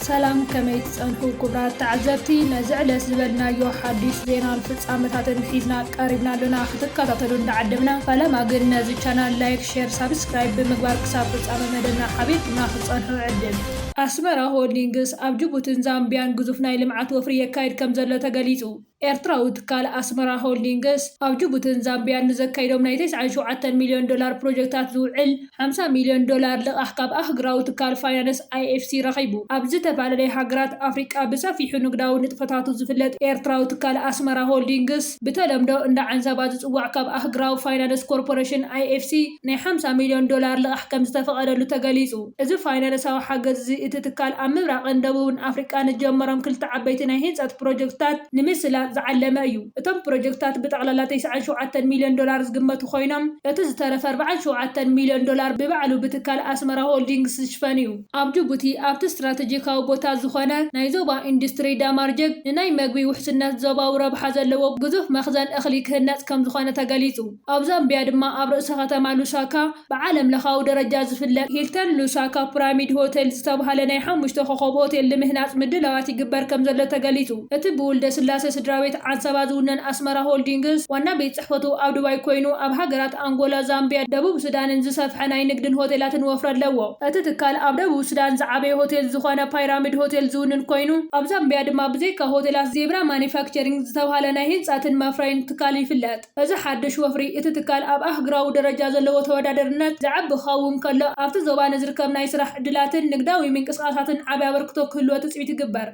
ሰላም ከመይ ትጸንሑ ኩቡራት ተዓዘብቲ ነዚ ዕለት ዝበልናዮ ሓዲሽ ዜናን ፍጻመታትን ሒዝና ቀሪብና ኣሎና ክትከታተሉ እንዳዓደምና ፈለማ ግን ነዚ ቻናል ላይክ ሼር ሳብስክራይብ ብምግባር ክሳብ ፍጻመ መደብና ሓቢርኩምና ክትጸንሑ ዕድል ኣስመራ ሆልዲንግስ ኣብ ጅቡትን ዛምቢያን ግዙፍ ናይ ልምዓት ወፍሪ የካይድ ከምዘሎ ተገሊጹ። ኤርትራዊ ትካል ኣስመራ ሆልዲንግስ ኣብ ጅቡትን ዛምቢያን ንዘካይዶም ናይ ተስዓን ሸውዓተን ሚልዮን ዶላር ፕሮጀክታት ዝውዕል ሓምሳ ሚልዮን ዶላር ልቓሕ ካብ ኣህግራዊ ትካል ፋይናንስ ኣይኤፍሲ ረኺቡ። ኣብ ዝተፈላለየ ሃገራት ኣፍሪቃ ብሰፊሑ ንግዳዊ ንጥፈታቱ ዝፍለጥ ኤርትራዊ ትካል ኣስመራ ሆልዲንግስ ብተለምዶ እንዳ ዓንሰባ ዝጽዋዕ ካብ ኣህግራዊ ፋይናንስ ኮርፖረሽን፣ ኣይኤፍሲ፣ ናይ ሓምሳ ሚልዮን ዶላር ልቓሕ ከምዝተፈቐደሉ ተገሊጹ። እዚ ፋይናንሳዊ ሓገዝ'ዚ እቲ ትካል ኣብ ምብራቕን ደቡብን ኣፍሪቃ ንዝጀመሮም ክልተ ዓበይቲ ናይ ህንጸት ፕሮጀክትታት ንምስላጥ ዝዓለመ እዩ። እቶም ፕሮጀክትታት ብጠቕላላ ተስዓን ሸውዓተን ሚልዮን ዶላር ዝግመቱ ኮይኖም፣ እቲ ዝተረፈ ኣርባዓን ሸውዓተን ሚልዮን ዶላር ብባዕሉ ብትካል ኣስመራ ሆልዲንግስ ዝሽፈን'ዩ። ኣብ ጅቡቲ ኣብቲ ስትራተጂካዊ ቦታ ዝኾነ ናይ ዞባ ኢንዱስትሪ ዳማርጀግ ንናይ መግቢ ውሕስነት ዞባዊ ረብሓ ዘለዎ ግዙፍ መኽዘን እኽሊ ክህነጽ ከምዝኾነ ተገሊጹ። ኣብ ዛምቢያ ድማ ኣብ ርእሰ ከተማ ሉሳካ ብዓለም ለኻዊ ደረጃ ዝፍለጥ ሂልተን ሉሳካ ፕራሚድ ሆቴል ዝተብሃለ ናይ ሓሙሽተ ኮኾብ ሆቴል ልምህናፅ ምድላዋት ይግበር ከምዘሎ ተገሊፁ። እቲ ብውልደስላሴ ስድራቤት ዓንሰባ ዝውነን ኣስመራ ሆልዲንግስ ዋና ቤት ፅሕፈቱ ኣብ ዱባይ ኮይኑ ኣብ ሃገራት ኣንጎላ፣ ዛምቢያ፣ ደቡብ ሱዳንን ዝሰፍሐ ናይ ንግድን ሆቴላትን ወፍሪ ኣለዎ። እቲ ትካል ኣብ ደቡብ ሱዳን ዝዓበየ ሆቴል ዝኾነ ፓይራሚድ ሆቴል ዝውንን ኮይኑ ኣብ ዛምቢያ ድማ ብዘይካ ሆቴላት ዜብራ ማኑፋክቸሪንግ ዝተብሃለ ናይ ህንፃትን መፍረይን ትካል ይፍለጥ። እዚ ሓድሽ ወፍሪ፣ እቲ ትካል ኣብ ኣህግራዊ ደረጃ ዘለዎ ተወዳደርነት ዘዕቢ ክኸውን ከሎ፣ ኣብቲ ዞባ ንዝርከብ ናይ ስራሕ ዕድላትን ንግዳዊ ምንቅስቓሳትን ዓቢ ኣበርክቶ ክህልዎ ትጽቢት ይግበር።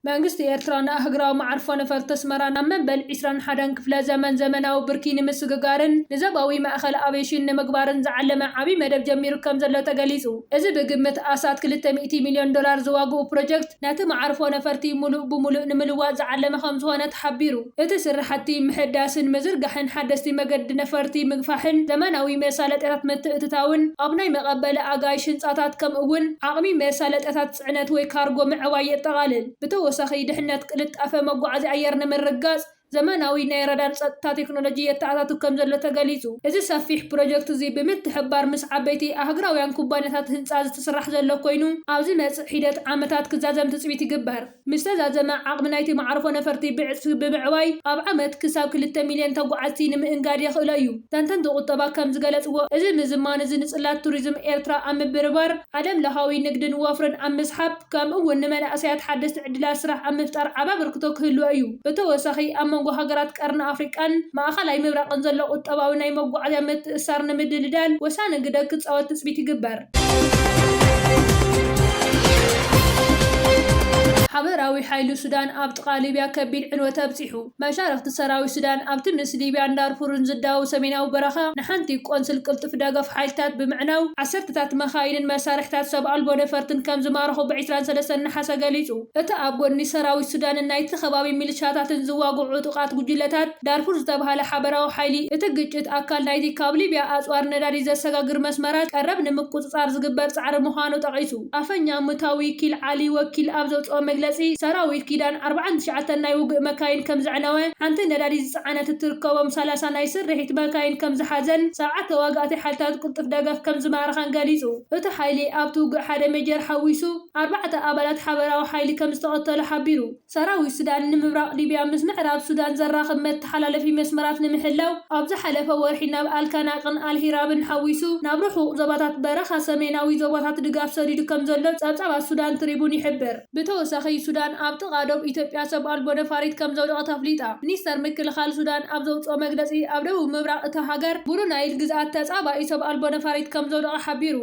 መንግስቲ ኤርትራ ንኣህግራዊ መዓርፎ ነፈርቲ ኣስመራ ናብ መበል ዕስራን ሓደን ክፍለ ዘመን ዘመናዊ ብርኪ ንምስግጋርን ንዘባዊ ማእከል ኣቬሽን ንምግባርን ዝዓለመ ዓቢ መደብ ጀሚሩ ከምዘሎ ተገሊጹ። እዚ ብግምት ኣስታት ክልተ ሚእቲ ሚልዮን ዶላር ዝዋግኡ ፕሮጀክት፣ ነቲ መዓርፎ ነፈርቲ ሙሉእ ብሙሉእ ንምልዋጥ ዝዓለመ ከምዝኾነ ተሓቢሩ። እቲ ስራሕቲ ምሕዳስን ምዝርጋሕን ሓደስቲ መገዲ ነፈርቲ ምግፋሕን ዘመናዊ መሳለጥያታት ምትእትታውን ኣብ ናይ መቐበሊ ኣጋይሽ ህንፃታት ከምኡ እውን ዓቕሚ መሳለጥያታት ፅዕነት ወይ ካርጎ ምዕባይ የጠቓልል። ብተወሳኺ ድሕነት ቅልጣፈ መጓዓዝያ ኣየር ንምርግጋፅ ዘመናዊ ናይ ራዳር ጸጥታ ቴክኖሎጂ የተኣታቱ ከምዘሎ ተገሊጹ። እዚ ሰፊሕ ፕሮጀክት'ዚ ብምትሕብባር ምስ ዓበይቲ ኣህጉራውያን ኩባንያታት ህንጻ ዝትስራሕ ዘሎ ኮይኑ፣ ኣብ ዝመጽእ ሒደት ዓመታት ክዛዘም ትጽቢት ይግበር። ምስ ተዛዘመ ዓቕሚ ናይቲ መዓርፎ ነፈርቲ ብዕጽፊ ብምዕባይ ኣብ ዓመት ክሳብ ክልተ ሚልዮን ተጓዓዝቲ ንምእንጋድ የኽእሎ እዩ። ተንተንቲ ቁጠባ ከም ዝገለጽዎ፣ እዚ ምዝማን'ዚ ንጽላት ቱሪዝም ኤርትራ ኣብ ምብርባር፣ ዓለምለኻዊ ንግድን ወፍርን ኣብ ምስሓብ፣ ከምኡ እውን ንመናእሰያት ሓደስቲ ዕድላት ስራሕ ኣብ ምፍጣር ዓቢ ኣበርክቶ ክህልዎ እዩ። ብተወሳኺ፣ ኣብ መንጎ ሃገራት ቀርኒ ኣፍሪቃን ማእከላይ ምብራቕን ዘሎ ቁጠባዊ ናይ መጓዓዝያ ምትእስሳር ንምድልዳል ወሳኒ ግደ ክጻወት ትጽቢት ይግበር። ሓበራዊ ሓይሊ ሱዳን ኣብ ጥቓ ሊብያ ከቢድ ዕንወት ኣብጺሑ። መሻርኽቲ ሰራዊት ሱዳን ኣብ ትምስ ሊብያን ዳርፉርን ዝዳወብ ሰሜናዊ በረኻ ንሓንቲ ቆንስል ቅልጡፍ ደገፍ ሓይልታት ብምዕናው ዓሰርተታት መካይንን መሳርሒታት ሰብ ኣልቦ ነፈርትን ከም ዝማረኹ ብ ዕስራን ሰለስተን ነሓሰ ገሊጹ። እቲ ኣብ ጎድኒ ሰራዊት ሱዳንን ናይቲ ከባቢ ሚልሻታትን ዝዋግዑ ዕጡቓት ጉጅለታት ዳርፉር ዝተብሃለ ሓበራዊ ሓይሊ እቲ ግጭት ኣካል ናይቲ ካብ ሊብያ ኣጽዋር ነዳዲ ዘሰጋግር መስመራት ቀረብ ንምቁጽጻር ዝግበር ጻዕሪ ምዃኑ ጠቒሱ። ኣፈኛ ምታዊ ኪል ዓሊ ወኪል ኣብ ዘውጽኦ መግለጺ፣ ሰራዊት ኪዳን ኣርብዓን ትሽዓተን ናይ ውግእ መካይን ከም ዘዕነወ፣ ሓንቲ ነዳዲ ዝጸዓነት እትርከቦም ሰላሳ ናይ ስርሒት መካይን ከም ዝሓዘን ሰብዓ ተዋጋእቲ ሓይልታት ቅልጡፍ ደገፍ ከም ዝማረኻን ገሊጹ። እቲ ሓይሊ ኣብቲ ውግእ ሓደ ሜጀር ሓዊሱ ኣርባዕተ ኣባላት ሓበራዊ ሓይሊ ከም ዝተቐተሉ ሓቢሩ። ሰራዊት ሱዳን ንምብራቕ ሊብያ ምስ ምዕራብ ሱዳን ዘራኽብ መተሓላለፊ መስመራት ንምሕላው ኣብ ዝሓለፈ ወርሒ ናብ ኣልካናቅን ኣልሂራብን ሓዊሱ ናብ ርሑቕ ዞባታት በረኻ ሰሜናዊ ዞባታት ድጋፍ ሰዲዱ ከምዘሎ ጸብጻባት ሱዳን ትሪቡን ይሕብር። ብተወሳኺ ሱዳን ኣብ ጥቓ ዶብ ኢትዮጵያ ሰብ ኣልቦ ነፋሪት ከምዘውደቐት ኣፍሊጣ። ሚኒስተር ምክልኻል ሱዳን ኣብ ዘውጽኦ መግለጺ ኣብ ደቡብ ምብራቕ እታ ሃገር ብሉ ናይል ግዝኣት ተጻባኢ ሰብ ኣልቦ ነፋሪት ከምዘውደቐ ሓቢሩ።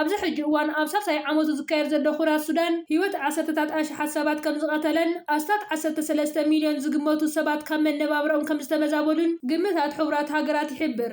ኣብዚ ሕጂ እዋን ኣብ ሳልሳይ ዓመቱ ዝካየድ ዘሎ ኩናት ሱዳን ህይወት ዓሰርተታት ኣሽሓት ሰባት ከምዝቐተለን ኣስታት ዓሰርተ ሰለስተ ሚልዮን ዝግመቱ ሰባት ካብ መነባብሮኦም ከምዝተመዛበሉን ግምታት ሕቡራት ሃገራት ይሕብር።